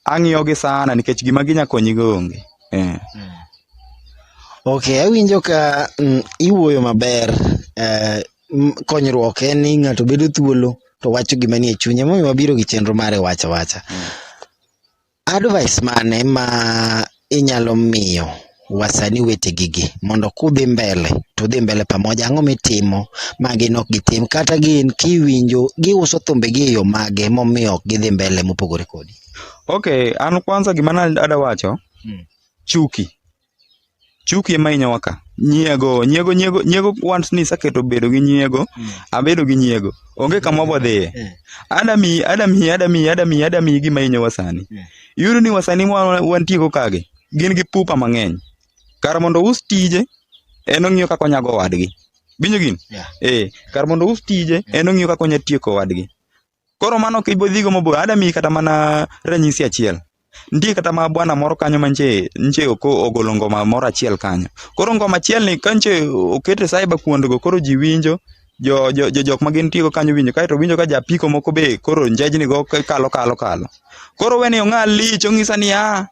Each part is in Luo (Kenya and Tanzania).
ang'iyogi sana nikech gima ginya konyigo onge eh. ok awinjo ka mm, iwuoyo maber eh, m- konyruok en ni ng'ato bedo thuolo to wacho gima nie chunye momiyo wabiro gi chenro mare wacha wacha advice mane ma inyalo miyo wasani wetegi gi mondo kudhi mbele to udhi mbele pamoja ang'o mitimo ma gin ok gitim kata gin kiwinjo giuso thumbegi e yo mage momiyo ok gidhi mbele mopogore kodi Okay, an kwanza gima na ada wacho, Mm. chuki. Chuki ema hinyowa ka. Nyiego, nyiego, nyiego, nyiego once ni saketo bedo gi nyiego, abedo gi nyiego. Onge kama wadhiye. Mm. Ada mi, ada mi, ada mi, ada mi, ada mi gima hinyowa sani. Mm. Iyudo ni wasanii ma wantiego kagi gin gi pupa mang'eny. Kar mondo ous tije, en ong'iyo kaka onyago wadgi. Winjo gini? Yeah. Eh, kar mondo ous tije, en ong'iyo kaka onya tieko wadgi. Koro mano ok ibodhigo mabor. Ada miyi kata mana ranyisi achiel. Nitie kata ma bwana moro kanyo ma nche, nche oko ogolo ngoma moro achiel kanyo. Koro ngoma achiel ni ka nche okete cyber kuondgo koro ji winjo jo jo jo jok ma gin tigo kanyo winjo kaeto winjo ka japiko moko be koro njejni go ka- kalo kalo kalo koro weni ong'a lich ong'isa niya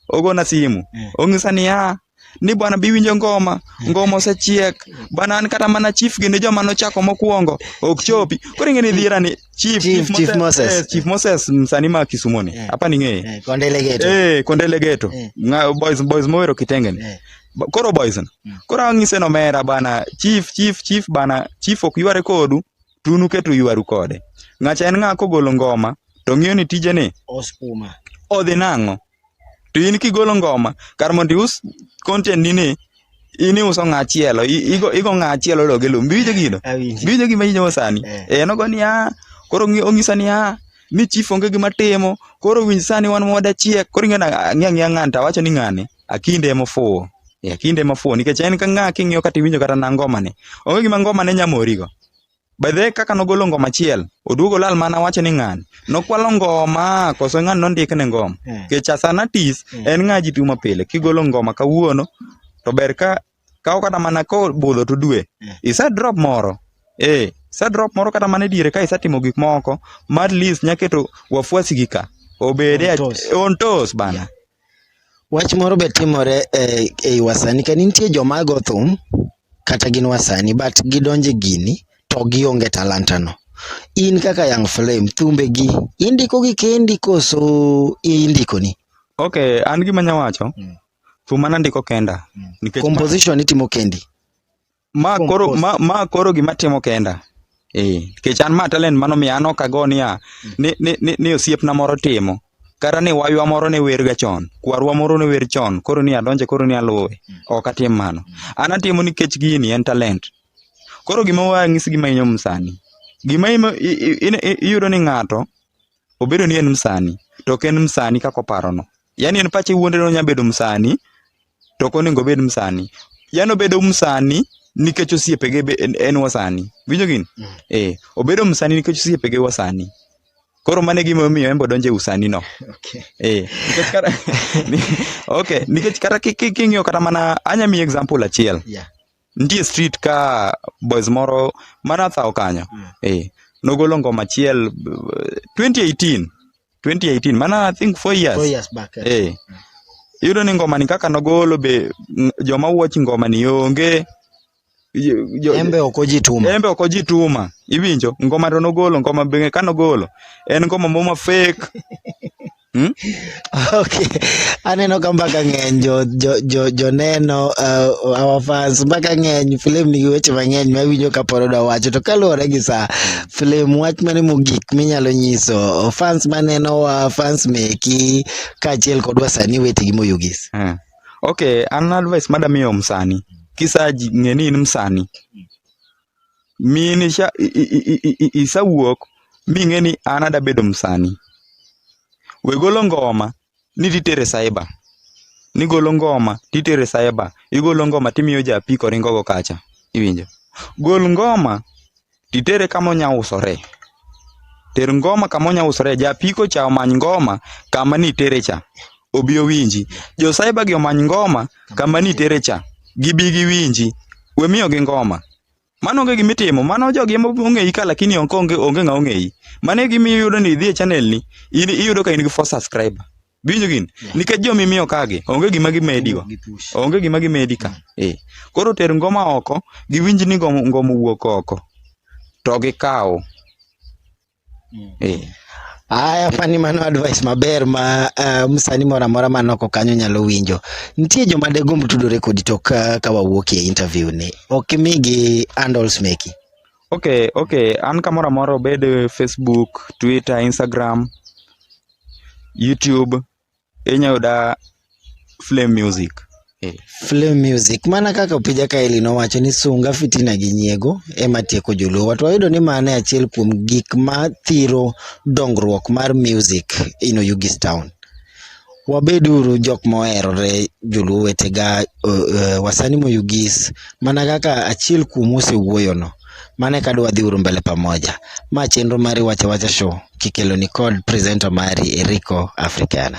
ogona simu Mm. ong'isa niya ni bwana biwinjo ngoma ngoma osechiek bwana an kata mana chief gi ne joma nochako mokwongo ok chopi koro ing'e ni dhiera ni chief Chief- chief Chief Moses. eh, chief moses mm, sani ma kisumo ni Eh. hapa ning'eye Eh, Kondele Geto. eh kondele geto Eh. Nga- boys boys mowero kitenge ni Eh. Ba- koro boys na. Mm. koro ang'ise no mera bana chief chief chief bana chief ok yware kodu to un uketo ywaru kode ng'acha en ng'a kogolo ngoma to ng'iyo ni tije ni Oskuma. odhi nang'o to in kigolo ngoma kar mondo ius content ni ni in iuso ng'a chielo i- igo igo ng'a chielo loge lum biwinjo gino Awinji. biwinjo gima inyowo sani Eh. eh nogo ni ah koro ng'i- ong'isa ni ah ni chief onge gima timo koro winj sani wan wada chiek koro ing'e na ng'e ng'e ng'ani to awacho ni ng'ani Akinde ema ofuwo. Eh, Akinde ema ofuwo nikech en ka ng'a king'iyo kata iwinjo kata na ngoma ne. Onge gima ngoma ne nyamorigo. By the way, kaka nogolo ngoma achiel, oduogo lal mana wacho ni ng'ani. Nokwalo ngoma koso ng'ani nondik ne ngoma. Eh. Nikech as an artist, Mm. en ng'a jituma pile. Kigolo ngoma kawuono, to ber ka kawo kata mana kobudho to dwe mm. isa drop moro eh isa drop moro kata mana diere ka isa timo gik moko ma at least nyaketo wafuasi gi ka obede on toes bana yeah. wach moro be timore e, e wasani ka nitie joma go thum kata gin wasani but gidonje gini to gionge talanta no in kaka young flame thumbe gi indiko gi kendi koso indiko ni okay an gima nyawacho mm. thum mana ndiko kenda mm. nikech composition itimo kendi ma koro ma, ma koro gima timo kenda eh nikech an ma talent mano mi an ok ago niya mm. ni ni, ni, ni osiepna moro timo kata ni waywa moro ne wer ga chon kwarwa moro ne wer chon koro ni adonje koro ni aluwe mm. ok atim mano an atimo nikech gini en talent koro gima wang'isi gima inyo msani gima iyudo ni ng'ato Obedo ni en msani, to ok en msani kaka oparono. Yaani en pache wuonde ni onyalo bedo msani, to ok onego obed msani. Yaani obedo msani nikech osiepege be en, en wasani. Winjo gini? Mm. Eh, obedo msani nikech osiepege wasani. Koro mano e gima omiyo en be odonjo e usani no. Okay. Eh, nikech kata okay, nikech kata ki- ki- king'iyo kata mana anya miyi example achiel. Yeah. nitie street ka boys moro mana thaw kanyo mm. eh, nogolo ngoma achiel 2018 2018 mana i think 4 years, four years back, eh. Eh. Mm. iyudo ni ngoma ni kaka nogolo be joma watch ngoma ni onge embe ok ojituma embe ok ojituma iwinjo ngoma to nogolo ngoma be ka nogolo en ngoma moma fake Hmm? Okay. Aneno ka mbaka ng'eny jo jo jo joneno uh, our fans mbaka ng'eny film nigi weche mang'eny ma winjo ka pod odwa wacho to kaluwore gi sa film wach mane mogik minyalo nyiso fans maneno wa fans meki kaachiel kod wasanii wetegi moyugis. Hmm. Okay, an advice madamiyo msanii. Kisaji ng'e ni in msanii. mine cha isawuok ming'e ni an ada bedo msani. We golo ngoma ni titere cyber. Nigolo ngoma titere cyber. Igolo ngoma timiyo ja apiko ringo go kacha. Iwinjo? Gol ngoma titere kama onya usore. Ter ngoma kama onya usore. Ja apiko cha omany ngoma kama nitere cha. Obi owinji. Jo cyber gi omany ngoma kama nitere cha. Gibi giwinji. We miyo gi ngoma. Mano onge gima itimo, mano jogi ema ong'eyi ka lakini onge onge onge ng'a ong'eyi. Mano e gima iyudo ni idhi e channel ni, in iyudo ka in gi four subscriber. Winjo gini? Yeah. Nikech joma imiyo kagi, onge gima gimedigo. Onge gima gimedi ka. Eh. Koro ter ngoma oko, giwinj ni ngoma ngoma wuok oko. To gikaw. Mm. Eh. Aya fani mano advice maber ma uh, msani mora mora man oko kanyo nyalo winjo. Nitie joma degomb tudore kodi to ka, ka wawuok e interview ni. Ok imigi handles meki. Okay, okay. An kamoro amora obed eh, Facebook, Twitter, Instagram, YouTube, inya yuda Flame Music. Eh. Flame Music. Mana kaka opija kaeli nowacho ni sunga fitina gi nyiego ema tieko joluo. To wayudo ni mano e achiel kuom gik ma thiro dongruok mar music in Oyugis Town. Wabeduru jok moherore joluo wetega uh, wasani moyugis mana kaka achiel kuom osewuoyono mane ka dwa dhi uru mbele pamoja ma chenro mari wacha wacha show kikelo ni kod presenter mari Eriko Africana